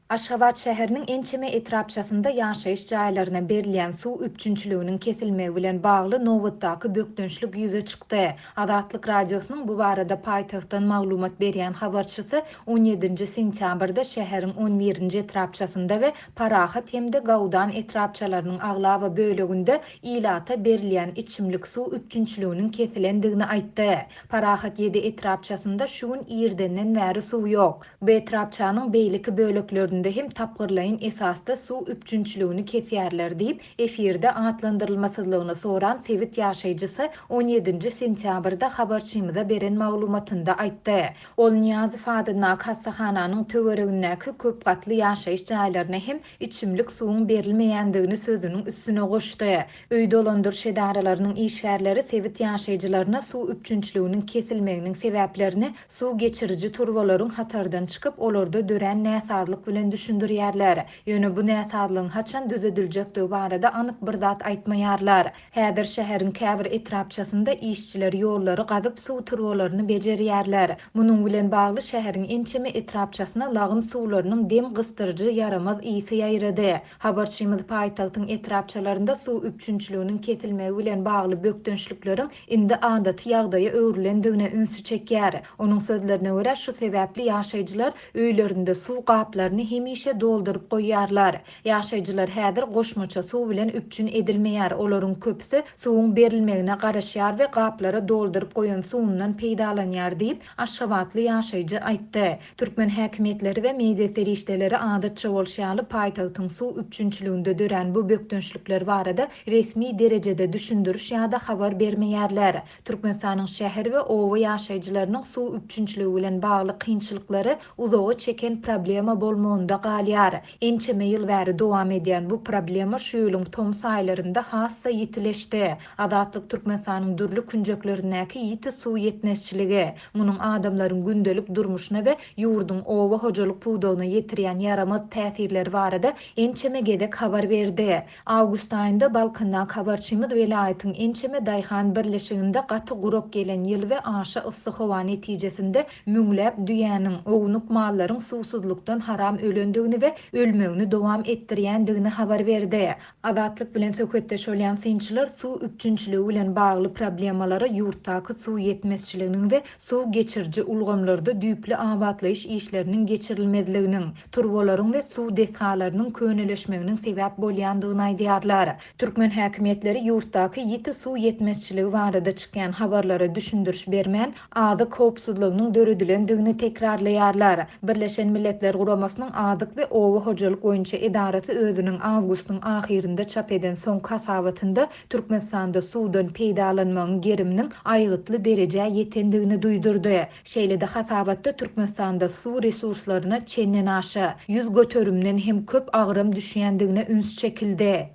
Aşgabat şäheriniň ençeme etrapçasynda ýaşaýyş jaýlaryna berilýän suw üpjünçiliginiň kesilmegi bilen bagly nobatdaky bökdençlik ýüze çykdy. Azatlyk Radiosynyň bu barada paýtagtdan maglumat berýän habarçysy on ýedinji sentýabrda şäheriň on birinji etrapçasynda we Parahat hem-de Gawdan etrapçalarynyň aglaba böleginde ilata berilýän içimlik suw üpjünçiliginiň kesilendigini aýtdy. Parahat ýedi etrapçasynda şu gün irdenden bäri suw ýok. Bu etrapçanyň beýleki böleklerinde hem tapgyrlaýyn esasda suw üpjünçiligini kesýärler diýip, efirde atlandyrylmasyzlygyny soran sebit ýaşaýjysy on ýedinji sentýabrda habarçymyza beren maglumatynda aýtdy. Ol Nyýazow adyndaky hassahananyň töweregindäki köp gatly ýaşaýyş jaýlaryna hem içimlik suwuň berilmeýändigini sözüniň üstüne goşdy. Öý dolandyryş edaralarynyň işgärleri sebit ýaşaýjylaryna suw üpjünçiliginiň kesilmeginiň sebäplerini suw geçiriji turbalaryň hatardan çykyp, olarda dörän näsazlyk bilen düşündirýärler. Ýöne bu näsazlygyň haçan düzediljekdigi barada anyk bir zat aýtmaýarlar. Häzir şäheriň käbir etrapçasynda işçiler ýollary gazyp, suw turbalaryny bejerýärler. Munuň bilen bagly şäheriň ençeme etrapçasyna lagym suwlarynyň dem gysdyryjy ýaramaz ysy ýaýrady. Habarçymyz paýtagtyň etrapçalarynda suw üpjünçiliginiň kesilmegi bilen bagly bökdençlikleriň indi adaty ýagdaýa öwrülendigine ünsi çekýär. Onuň sözlerine görä, şu sebäpli ýaşaýjylar öýlerinde suw gaplaryny hemişe dolduryp goýýarlar. Ýaşaýjylar häzir goşmaça suw bilen üpjün edilmeýär, olaryň köpüsi suwuň berilmegine garaşýar we gaplara dolduryp goýan suwundan peýdalanýar diýip, aşgabatly ýaşaýjy aýtdy. Türkmen häkimiýetleri we media serişdeleri adatça bolşy ýaly paýtagtyň suw üpjünçiliginde dörän bu bökdençlikler barada resmi derejede düşündiriş ýa-da habar bermeýärler. Türkmenistanyň şäher we oba ýaşaýjylarynyň suw üpjünçiligi bilen bagly kynçylyklary uzaga çeken problema bolmagynda galýar. Ençeme ýyl bäri dowam edýän bu problema şu ýylyň tomus aýlarynda has-da ýitileşdi. Azatlyk Türkmenistanyň dürli künjeklerindäki ýiti suw ýetmezçiligi, Munuň adamlaryň gündelik durmuşyna we ýurduň oba hojalyk pudagyna ýetirýän ýaramaz täsirleri barada ençeme gezek habar berdi. Awgust aýynda Balkandaky habarçymyz welaýatyň ençeme daýhan birleşiginde gaty gurak gelen ýyl we aşa yssy howa netijesinde müňläp düýäniň, ownuk mallaryň suwsuzlykdan haram ölendigini we ölmegini dowam etdirýändigini habar berdi. Azatlyk bilen söhbetdeş bolýan synçylar suw üpjünçiligi bilen bagly problemalara ýurtdaky suw ýetmezçiliginiň we suw geçiriji ulgamlarda düýpli abatlaýyş işleriniň geçirilmezliginiň, turbalaryň we suw desgalarynyň köneleşmeginiň sebäp bolýandygyny aýdýarlar. Türkmen häkimiýetleri ýurtdaky ýiti suw ýetmezçiligi barada çykýan habarlara düşündiriş bermän, azyk howpsuzlygynyň döredilendigini tekrarlaýarlar. Birleşen Milletler Guramasynyň Azyk we oba hojalyk boýunça edarasy özüniň awgustyň ahyrynda çap eden soňky hasabatynda Türkmenistanda suwdan peýdalanmagyň geriminiň aýgytly derejä ýetendigini duýdurdy. Şeýle-de hasabatda Türkmenistanda suw resurslaryna çendenaşa ýüz göterimden hem köp agram düşýändigine üns çekildi.